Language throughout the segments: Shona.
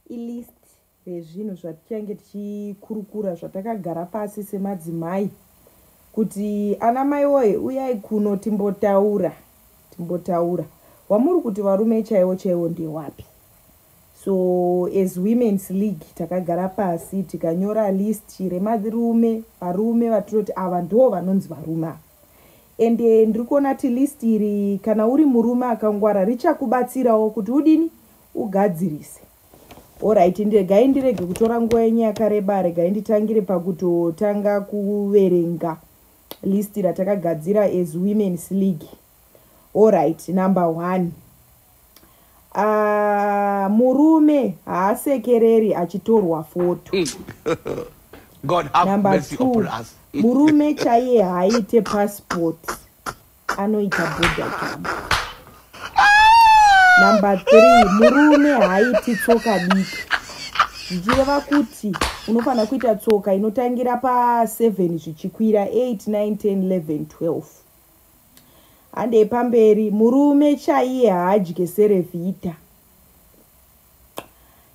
ilist rezvinhu zvatichange tichikurukura zvatakagara pasi semadzimai kuti ana mai woye uyai kuno timbotaura timbotaura wamuri kuti varume chaiwo chaiwo ndewapi so as women's league takagara pasi tikanyora list remarume varume vatinoti ava ndo vanonzi varume ava ende eh, ndiri kuona ti list iri kana uri murume akangwara richakubatsirawo kuti udini ugadzirise orit ndegai ndirege kutora nguva yenyu yakareba regai nditangire pakutotanga kuverenga list ratakagadzira as womens league orit number one uh, murume haasekereri achitorwa foto mm. number two murume chaiye haaite passport anoita bodagam number three murume haaiti tsoka diki zvichireva kuti unofanira kuita tsoka inotangira paseven zvichikwira eight nine ten eleven twelve handei pamberi murume chaiye haadye serevhita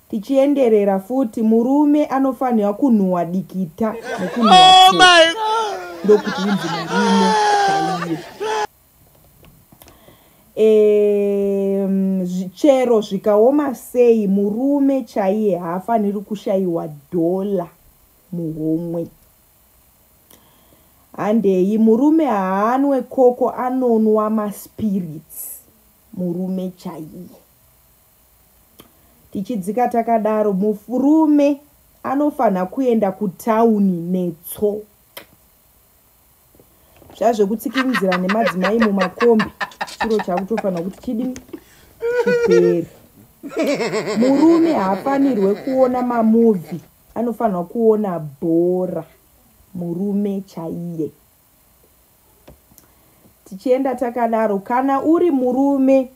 tichienderera futi murume anofanirwa kunhuwa dikita nekunhuwa oh ndokuti inzi murume chaiye chero zvikaoma sei murume chaiye haafaniri kushayiwa dhola muhomwe handei murume haanwe koko anonwa maspirits murume chaiye tichidzika takadaro murume anofanha kuenda kutauni netso zvazvekutsikinzira nemadzimai mumakombi chiro chakutofanha kuti chidi chiperi murume haafanirwe kuona mamuvi anofanirwa kuona bhora murume chaiye tichienda takadaro kana uri murume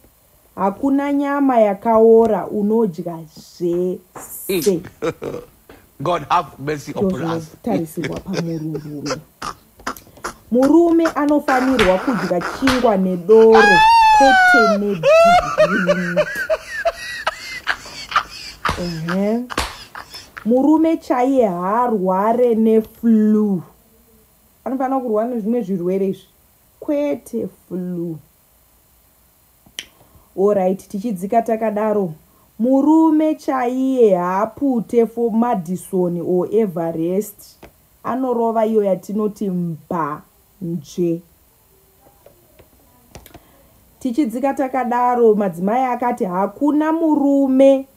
hakuna nyama yakaora unodya zvese god have mercy upon us tarisirwa pamururume murume anofanirwa kudya chingwa nedoro kwete nedhini ehe murume chaiye haarware neflu anofanira kurwara nezvimwe zvirwere izvi kwete flu Alright tichidzika takadaro. Murume chaiye haapute for Madison or Everest. Anorova iyo yatinoti mba nje. Tichidzika takadaro madzimai akati hakuna murume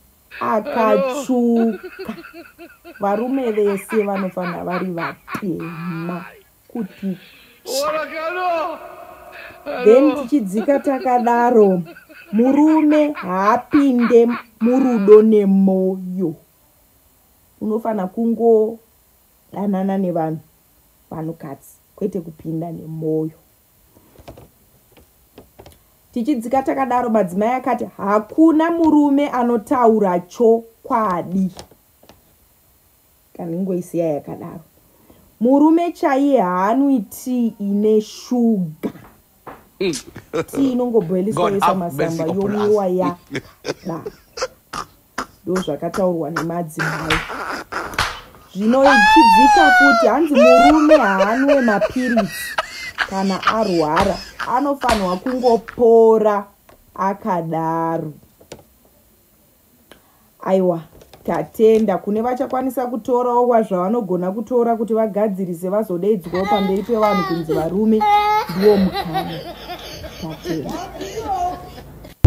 akatsvuka. Varume vese vanofanira vari vatema. kuti then tichidzika takadaro murume haapinde murudo nemoyo unofanira kungodanana nevanhu vanhukadzi kwete kupinda nemoyo tichidzika takadaro madzimai akati hakuna murume anotaura chokwadi Kana ingoisiya yakadaro. Murume chaiye haanwi tea ine sugar. Tea inongoboiliswa yoisa masamba yomwiwa ya. Ba. Ndo zvakataurwa nemadzimai. Zvino ichidzika futi hanzi murume haanwe mapiritsi kana arwara anofanirwa kungopora akadaro. aiwa tatenda kune vachakwanisa kutorawo wazvavanogona kutora kuti vagadzirise vazodeidzwawo pamberi pevanhu kunzi varume ndiwo mukana tatenda